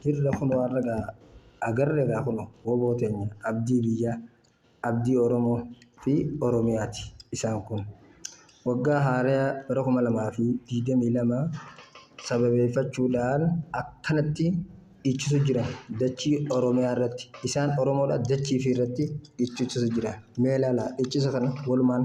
Jirra kunoo har'a gaa agarre gaa kunoo woboo teenya abdii biyyaa abdii Oromoo fi Oromiyaati isaan kun. Waggaa haaraya bara kuma lamaa fi digdamii lama sababeeffachuudhaan akkanatti dhiichisu jira dachii Oromiyaa irratti isaan Oromoodha dachii fi irratti dhiichisu jira. Mee ilaalaa dhiichisa kana walumaan.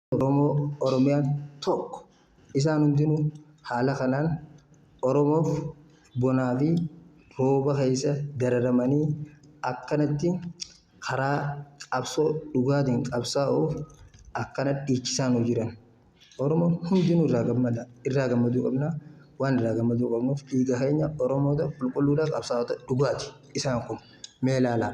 Oromoo Oromiyaan tokko. Isaan hundinuu haala kanaan Oromoof bonaa fi rooba keessa dararamanii akkanatti karaa qabsoo dhugaatiin qabsaa'uuf akkana dhiichisaa nuu jiran. Oromoon hundinuu irraa gammada. Irraa gammaduu qabna. Waan irraa gammaduu qabnuuf dhiiga keenya Oromoota qulqulluudha qabsaa'ota dhugaati isaan kun. Mee ilaalaa.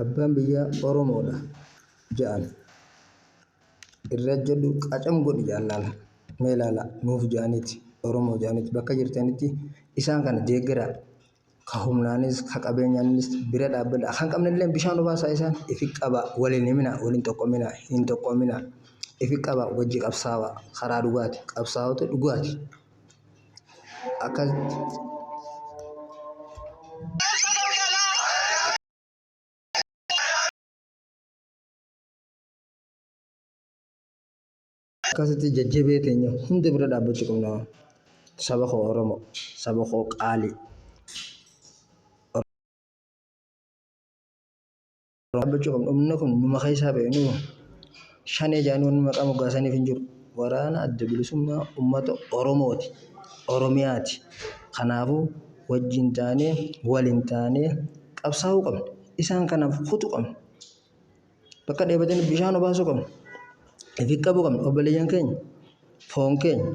Abbaan biyyaa Oromoodha ja'an. Irra jedhu qacam godhi ja'an laala. Mee laala nuuf ja'aniiti Oromoo ja'aniiti bakka jirtanitti isaan kana deeggaraa. Ka humnaanis ka qabeenyaanis bira dhaabbadha. Kan qabnillee bishaan obaasaa isaan ifi qabaa waliin himinaa waliin tokkominaa hin tokkominaa. Ifi qabaa wajji qabsaawaa karaa dhugaati qabsaawota dhugaati. akkas akkasitti jajjabee keenya hunda bira dhaabbachuu qabna saba koo oromo saba koo qaalii Dhaabbachuu qabna. Humna kun numa keessaa ba'e nu shanee jedhanii wanni maqaa moggaasaniif hin jiru. Waraana adda bilisummaa uummata Oromooti. Oromiyaati. Kanaafuu wajjin taanee waliin taanee qabsaa'uu qabna. Isaan kanaaf kutu qabna. Bakka dheebatanii bishaan obaasuu qabna. Ifi qabuu qabna. Obboleeyyan keenya foon keenya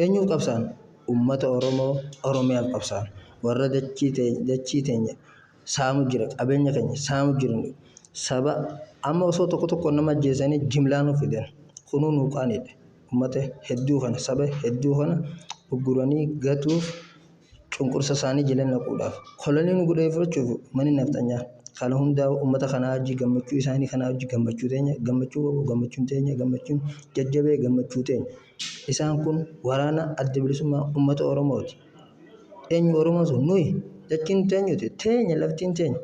eenyuuf qabsaa'an? Uummata Oromoo Oromiyaaf qabsaa'an. Warra dachii teenya saamu jira qabeenya keenya saamu jirani saba amma osoo tokko tokko nama ajjeesanii jimlaa nu fidan kunuu nu qaanidha ummata hedduu kana saba hedduu kana ugguranii gatuuf cunqursa isaanii jala naquudhaaf kolonii nu godhee fudhachuuf mani nafxanyaa kana hundaa ummata kanaa hojii gammachuu isaanii kanaa hojii gammachuu teenya gammachuu qabu gammachuun teenya gammachuun jajjabee gammachuu teenya isaan kun waraana adda bilisummaa ummata oromooti Eenyu Oromoon sun nuyi jechiin teenyuti teenya laftiin teenya.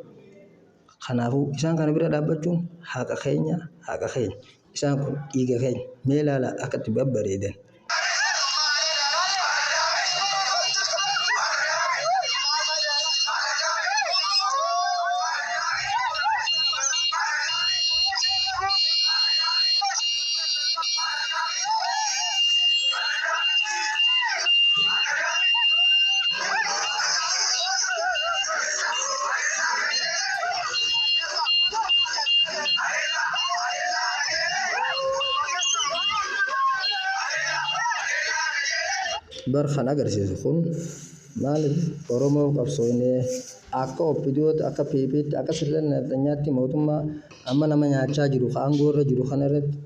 Kanaafuu isaan kana bira dhaabbachuun haqa keenya haqa keenya isaan kun dhiiga keenya mee ilaalaa akka itti babbareedan. Bar kan agarsiisu kun maaliif Oromoo qabsoofnee akka OPDOtti akka PPtti akka sirna nafxanyaatti mootummaa amma nama nyaachaa jiru ka aangoo irra jiru kana irratti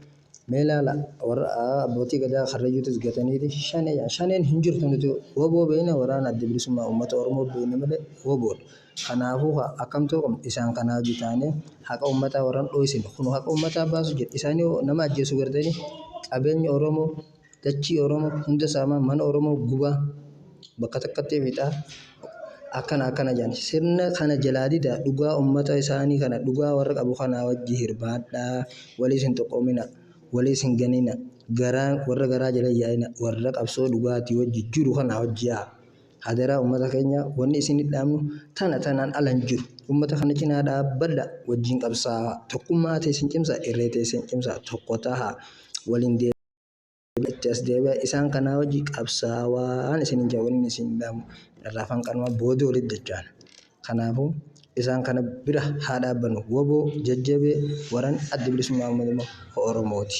Mee ilaala warra abbootii gadaa karrayyuutis gataniiti shanee jedhan. Shaneen hin jirtu nuti waboo beekna waraana adda bilisummaa uummata Oromoo beekna malee waboodha. Kanaafuu kaa akkam ta'uu qabna isaan kanaa hojii taanee haqa uummataa warran dhooysine kun haqa uummataa baasu jedha. Isaanii nama ajjeesu gartanii qabeenya Oromoo dachii Oromoo hunda saamaa, mana Oromoo gubaa, bakka takkatti fixaa, akkana akkana jedhan. Sirna kana jalaa didaa dhugaa ummata isaanii kana dhugaa warra qabu kanaa wajji hirmaadhaa, waliis hin xuqoominaa, waliis hin ganinaa, garaa warra garaa jala hin yaa'inaa, warra qabsoo dhugaatii wajji jiru kanaa wajji yaa'a. Hadaraa ummata keenya wanni isin dhaamnu tana tanaan ala hin jiru. Ummata kana cinaa dhaabbadha wajjin qabsaa'a. Tokkummaa teessan cimsaa, irree teessan cimsaa, tokko tahaa, waliin deemaa. itti as deebi'a isaan kanaa wajji qabsaawaan isin hin jawwin isin dhaamu irraa afaan qanumaa boodii walitti dachaan kanaafuu isaan kana bira haa dhaabbannu waboo jajjabee waran addi bilisummaa uummata Oromooti.